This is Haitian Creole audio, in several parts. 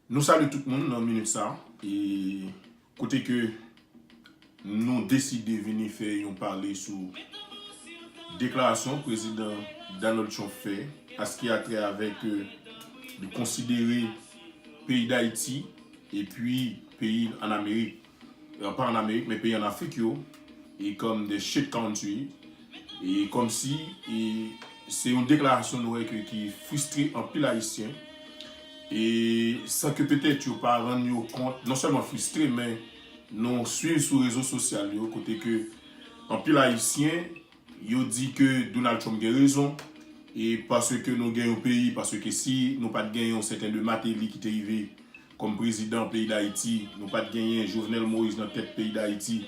Nou salye tout moun nan minit sa e kote ke nou deside vini fè yon pale sou deklarasyon prezidan Donald Trump fè a se ki a trè avèk li konsidere peyi Dayiti epi peyi an Amerik. pa an amerik men peyi an afrik yo e kòm the shit country e kòmsi e se yon deklarasyon nou wè ke ki fristre anpil ayisyen e san ke petèt yo pa rann yo kont non sèlman fristre men nou swiv sou rezo sosyal yo kote ke anpil ayisyen Yo di ke Donald Trump gen rezon e paske nou gen yon peyi paske si nou pat gen yon sèten de Mateli ki te rive kòm prezidan peyi Dayiti, nou pat genyen Jovenel Moïse nan tèt peyi Dayiti,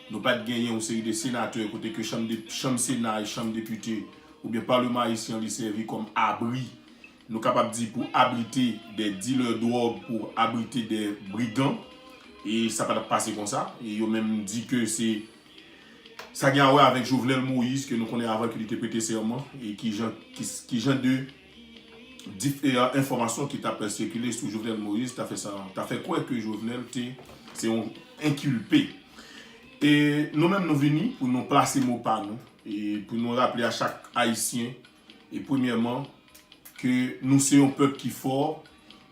nou pat genyen yon seri de senatè kote ke chanm de chanm sena e chanm depite oubyen Paleman Ayisyen an li sèvi kòm abri nou kapab di pou abrite dè dilè dwòg pou abrite dè brigan e sa patap pase konsa e yo menm di ke se Sa gen a wè avèk Jovenel Moïse ke nou konnen avan ke li te prete sèman e ki jan ki jan de diferan enfòmasyon ki tap sikile sou Jovenel Moïse ta fè sa ta fè kwè ke Jovenel te se yon enkilpe. E nou menm nou vini pou nou plase mo pa nou e pou nou raple a chak Ayisyen e premyèman ke nou se yon pèp ki fò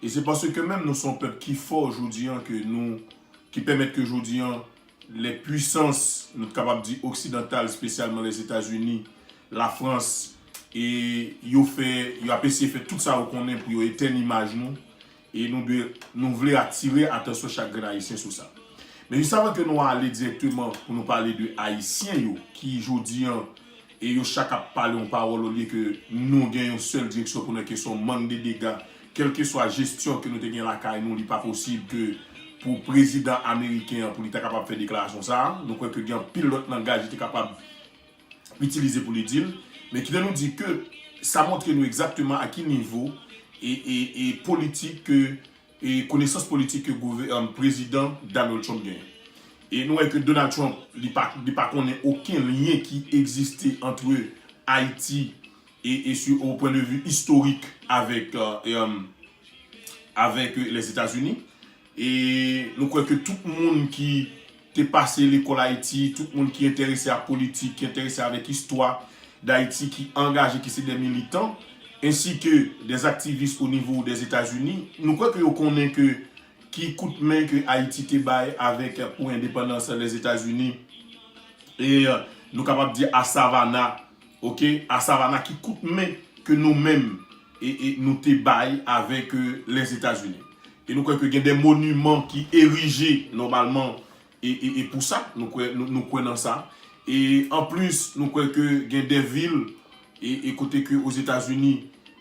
e se paske menm nou se yon pèp ki fò jodi an ke nou ki pèmèt ke jodi an lè pwisans, nou t kapab di oksidantal, spesyalman Lèzetazini, Lafrans, e yo fè, yo ap eseye fè tout sa yo konnen pou yo etèn imaj nou, e nou dwe, nou vle atire atansyon chak grenn Ayisyen sou sa. Men jis avan ke nou ale dirèkteman pou nou pale de Ayisyen yo ki jodi an e yo chak ap pale yon pawòl olye ke nou gen yon sèl direksyon pou nou ke son mann de dega kèlkeswa jesyon ke nou te gen lakay nou li pa posib ke pou prezidan ameriken an pou li ta kapab fè deklarasyon sa a nou kwè ke gen anpil lòt langaj li te kapab itilize pou li di l men kite nou di ke sa montre nou egzakteman a ki nivo e e e politik ke e konesans politik ke prezidan Donald Trump genyen. E nou wè ke Donald Trump li pa li pa konnen oken lyen ki egziste antre Ayiti e e su o pwen de vi istorik avèk avèk Lèzetazini. E nou kwè ke tout moun ki te pase lekòl Ayiti, tout moun ki enterese ak politik, ki enterese avèk istwa Dayiti, ki angaje, ki se dè militan, ensi ke dè aktivis o nivo dè Etazini, nou kwè ke yo konnen ke ki kout men ke Ayiti te bay avèk pou endepandans lè Etazini, e nou kapab di a Savannah, Ok a Savannah ki kout men ke nou menm nou te bay avèk Lèzetazini? E nou kwè ke gen de moniman ki erije nòmalman e pou sa, nou kwè nan sa. E an plis nou kwè ke gen de vil e kote ke Ozetazini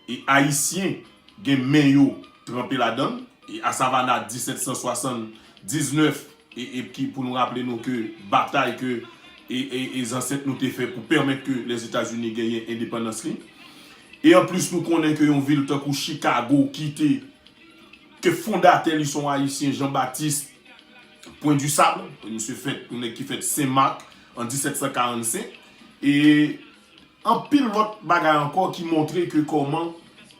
e Ayisyen gen men yo tranpe ladann. E a Savannah 1779 Epki pou nou raple nou ke batay ke e zansèt nou te fè pou pèmèt ke Lèzetazini genyen endepandans li. E anplis nou konnen ke yon vil tankou Chikago ki te ke fondatè li son Ayisyen Jean Baptiste Point du Sable, misye fèt yon nèg ki fèt Sen Mak an 1745. E Anpil lòt bagay ankò ki montre ke kòman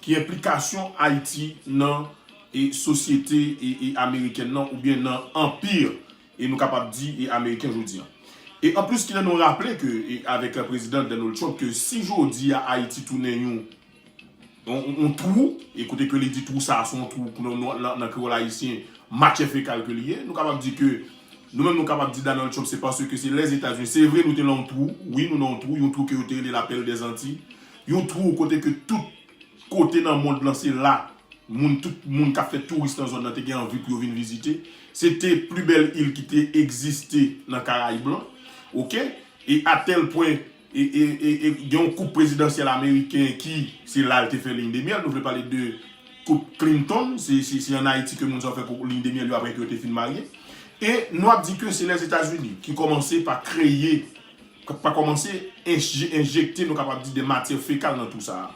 ki enplikasyon Ayiti nan e sosyete e e amerikèn nan oubyen nan anpir e nou kapab di e ameriken jodi an. E anplis kilè nou raple ke e avèk prezidan Donald Trump ke si jodi a Ayiti tounen yon yon twou, e kote ke li di twou sa a se yon twou ke nou nan kreyòl ayisyen matyè fekal ke li ye. Nou kapab di ke, nou menm nou kapab di Donald Trump se paske se Lèzetazini, se vre nou te nan yon twou, wi nou nan yon twou, yon twou ke yo te rele la pèl dè zantiy, yon twou kote ke tout kote nan mond lan se la moun tout moun kap fè touris nan zòn nan te gen anvi pou yo vin vizite. Se te pli bèl il ki te egziste nan karayib lan. Ok, e a tèl pwen. Gen yon koup prezidansyèl ameriken ki se la l te fè liy de myèl. Nou vle pale de koup Clinton. Se an Ayiti ke moun sa yo fè koup liy de myèl yo apre ke yo te fin marye. E nou ap di ke se Lèzetazini ki kòmanse pa kreye, pa kòmanse enjekte nou kapab di de matyè fekal nan tou sa a.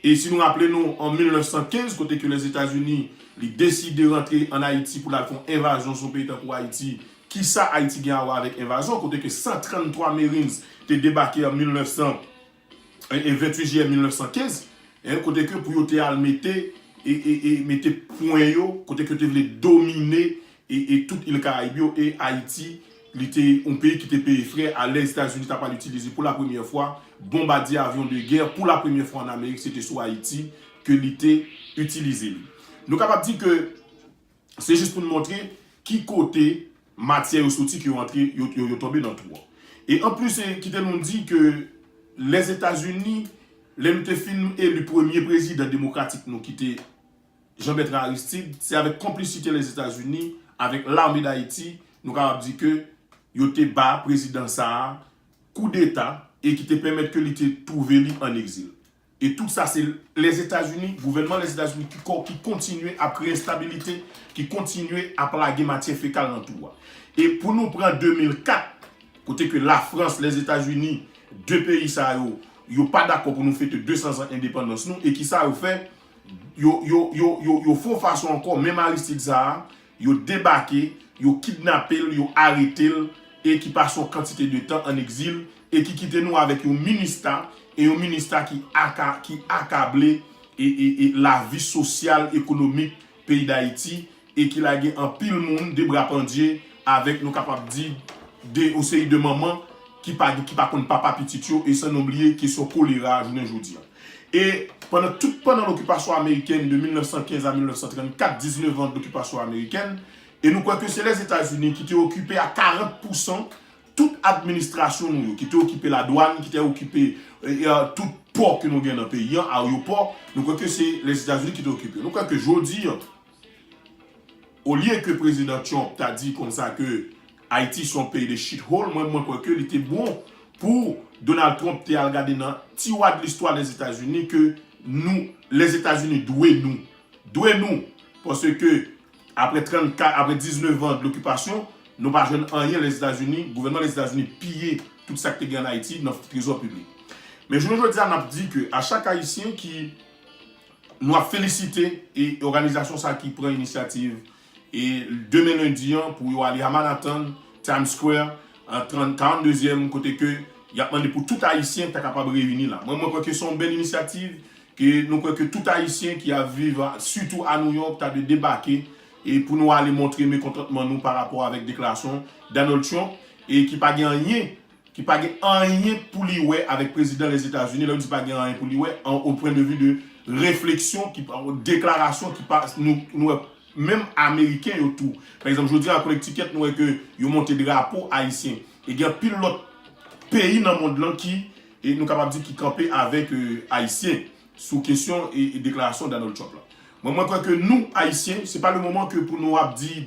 E si nou raple nou an 1915 kote ke Lèzetazini li deside rantre an Ayiti pou l al fè yon envazyon sou yon peyi tankou Ayiti Kisa Ayiti gen a wè avèk envazyon kote ke 133 Marines te debake an 1928 jiyè 1915 eh kote ke pou yo te al mete eh mete pwen yo kote ke yo te vle domine eh eh tout il Karayib yo e Ayiti li te yon peyi ki te peye frè a lè Etazini ta pral itilize pou la premyè fwa bonbadye avyon de gè pou la premyè fwa an Amerik se te sou Ayiti ke li te itilize li. Nou kapab di ke. Se jis pou n montre ki kote matyè yo soti ke yo antre, yo tonbe nan twou an. E anplis, kite nou di ke Lèzetazini, lè nou te fin eli premye prezidan demokratik nou ki te Jean Bertrand Aristide, se avèk konplisite Lèzetazini, avèk Lame Dayiti, nou kapab di ke yo te ba prezidan sa a koudeta e ki te pèmèt ke li te twouve li an egzil. E tout sa se Lèzetazini, gouvènman Lèzetazini ki kontinye ap kreye enstabilite, ki kontinye ap lage matyè fekal nan twou a. E pou nou pran 2004, kote ke Lafrans, Lèzetazini, 2 peyi sa yo, yo pa dakò pou nou fete 200 zan endepandans nou, e kisa yo fè? Yo fon fason ankò, menm Aristide sa a, Yo debake, yo kidnape l, yo arete l, e ki pase yon kantite de tan an egzil, e ki kite nou avèk yon minista, e yon minista ki aka, ki akable e, e, e lavi sosyal, ekonomik peyi Dayiti, e ki lage anpil moun de bra pandye, avèk nou kapab di, de yon seri de manman ki pa gen, ki pa konn papa pitit yo, e san nou bliye kesyon kolera jounen jodi an. E pandan tout pandan lokipasyon amerikèn de 1915 a 1934, 19 an dokipasyon amerikèn, e nou kwè ke se Lèzetazini ki te okipe a 40 pousan tout administrasyon nou yo, ki te okipe ladwann, ki te okipe tout pò ke nou gen nan peyi an, aryopò, nou kwè ke se Lèzetazini ki te okipe. Nou kwè ke jodi an, Olye ke Prezidan Trump ta di konsa ke Ayiti se yon peyi de shithole, mwen mwen kwè ke li te bon pou Donald Trump te al gade nan tiwa de listwa Lèzetazini ke nou, Lèzetazini dwe nou. Dwe nou! Pase ke apre 34, apre 19 an de lokipasyon, nou pa jwenn anyen Lèzetazini, gouvènman Lèzetazini piye tout sa ki te gen an Ayiti nan trezò piblik. Men jounen jodi a n ap di ke a chak Ayisyen ki Nou ap felisite e òganizasyon sa ki pran inisyativ e demen lendi an pou yo ale a Manhattan, Times Square, an 30, 42 zièm kote ke y ap mande pou tout ayisyen ta kapab reyini la. Mwen mwen kwè ke se yon bèl inisyativ ke nou kwè ke tout ayisyen ki ap viv a sitou a New York ta dwe debake e pou nou ale montre mekontantman nou pa rapò avèk deklarasyon Donald Trump e ki pa gen anyen ki pa gen anyen pou li wè avèk prezidan Lèzetazini, lè m di pa gen anyen pou li wè, an o pwen de vi de refleksyon ki pa, deklarasyon ki pa, nou, nou wè menm ameriken yo tou, pa egzanp jodi a Connecticut nou wè ke yo monte drapo ayisyen, e gen anpil lòt peyi nan mond lan ki, e nou kapab di ki kanpe avèk ayisyen sou kesyon e deklarasyon Donald Trump lan. Mwen, mwen kwè ke nou ayisyen, se pa le moman ke pou nou ap di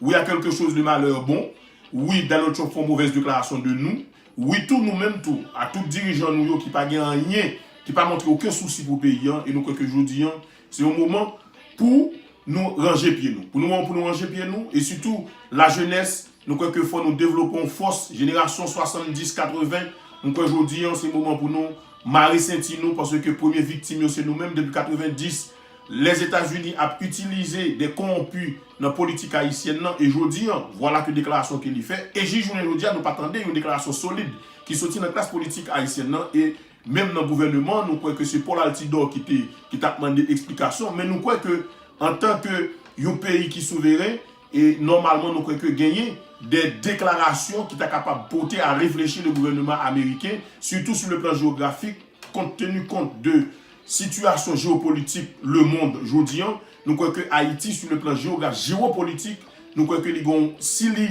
Wi a quelque chose de malheur bon Wi Donald Trump fon movèz deklarasyon de nou Wi tou nou menm tou a tout dirijan nou yo ki pa gen anyen ki pa montre oken sousi pou peyi an e nou kwè ke jodi an se yon moman pou nou ranje pye nou pou nou an pou nou ranje pye nou e sitou la jenès nou kwè ke fò nou devlope yon fòs jenerasyon 70 80 m kwè jodi an se moman pou nou mare senti nou paske premye viktim yo se nou menm depi 90 Lèzetazini ap itilize de kowonpi nan politik ayisyèn nan e jodi an, vwala ke deklarasyon ke li fè, e jis jounen jodi a nou pa tande yon deklarasyon solid ki soti nan klas politik ayisyèn nan e menm nan gouvèneman an, nou kwè ke se Paul Altidor ki te ki tap mande eksplikasyon, men nou kwè ke antan ke yon peyi ki souveren e nòmalman nou kwè ke genyen de deklarasyon ki ta kapab pote a reflechi le gouvèneman ameriken sitou sou le plan jewografik kont teni kont de Sitiyasyon jewopolitik lemond jodi an, nou kwè ke Ayiti sou le plan jewograf, jewopolitik, nou kwè ke li gen yon, si li,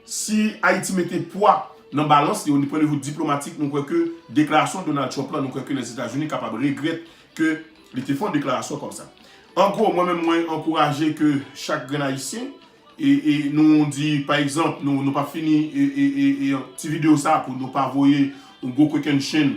si Ayiti mete pwa nan balans li, o pwen de vi diplomatik, nou kwè ke deklarasyon Donald Trump lan, nou kwè ke Lèzetazini kapab regrèt ke li te fè yon deklarasyon kòm sa. An gwo, mwen menm mwen ankouraje ke chak grenn Ayisyen, e, e, nou di, pa egzanp, nou, nou pap fini, e, e, e, e, ti videyo sa pou nou pa voye yon gwo kokennchenn,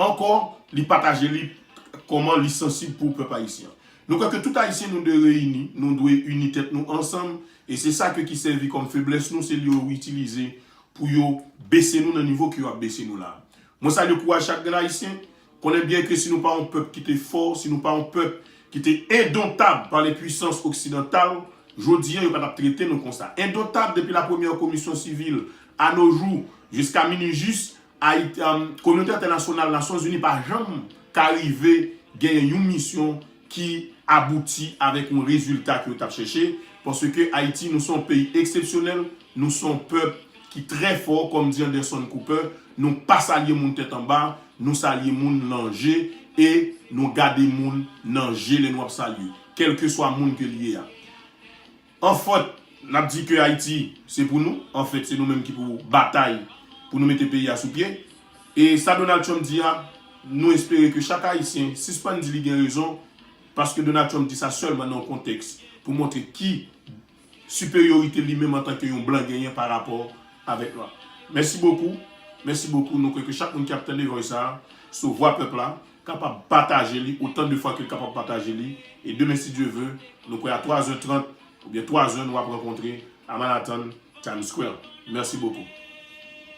Ankò, li pataje li kòman li sansib pou pèp ayisyen an. Nou kwè ke tout ayisyen nou dwe reyini, nou dwe ini tèt nou ansanm, e se sa ke ki sèvi kòm feblès nou, se li yo itilize pou yo bese nou nan nivo ke yo ap bese nou la a. Mwen salye kouraj chak grenn ayisyen, konnen byen ke si nou pa yon pèp ki te fò, si nou pa yon pèp ki te endontab pa lenpwisans oksidantal, jodi an yo pa t ap trete nou konsa. Endontab depi la premyè komisyon sivil a no jou, jiska minui jis, Kominote entènasyonal, Nasyon Zini pa janm ka rive genyen yon misyon ki abouti avèk yon rezilta ke yo tap chèche, paske Ayiti nou se yon peyi eksepsyonèl, nou se yon pèp ki trè fò, kòm di Anderson Cooper, nou pa salye moun tèt anba, nou salye moun lan je, e nou gade moun nan je lè nou ap salye, kèlkeswa moun ke li ye a. Anfèt, n ap di ke Ayiti se pou nou, anfèt se nou menm ki pou batay pou nou mete peyi a sou pye. E sa Donald Trump di a, nou espere ke chak Ayisyen sispann di li gen rezon, paske Donald Trump di sa sèlman nan yon kontèks pou montre ki siperyorite li menm antanke yon blan genyen pa rapò avèk nwa. Mèsi bokou, mèsi bokou, nou kwè ke chak moun ki ap tande vòy sa a sou Vwa Pèp la, kapab pataje li otan de fwa ke l kapab pataje li e demen si Dye ve nou kwè a 3 zè 30 oubyen 3 zè nou ap rankontre a Manhattan Times Square. Merci beaucoup.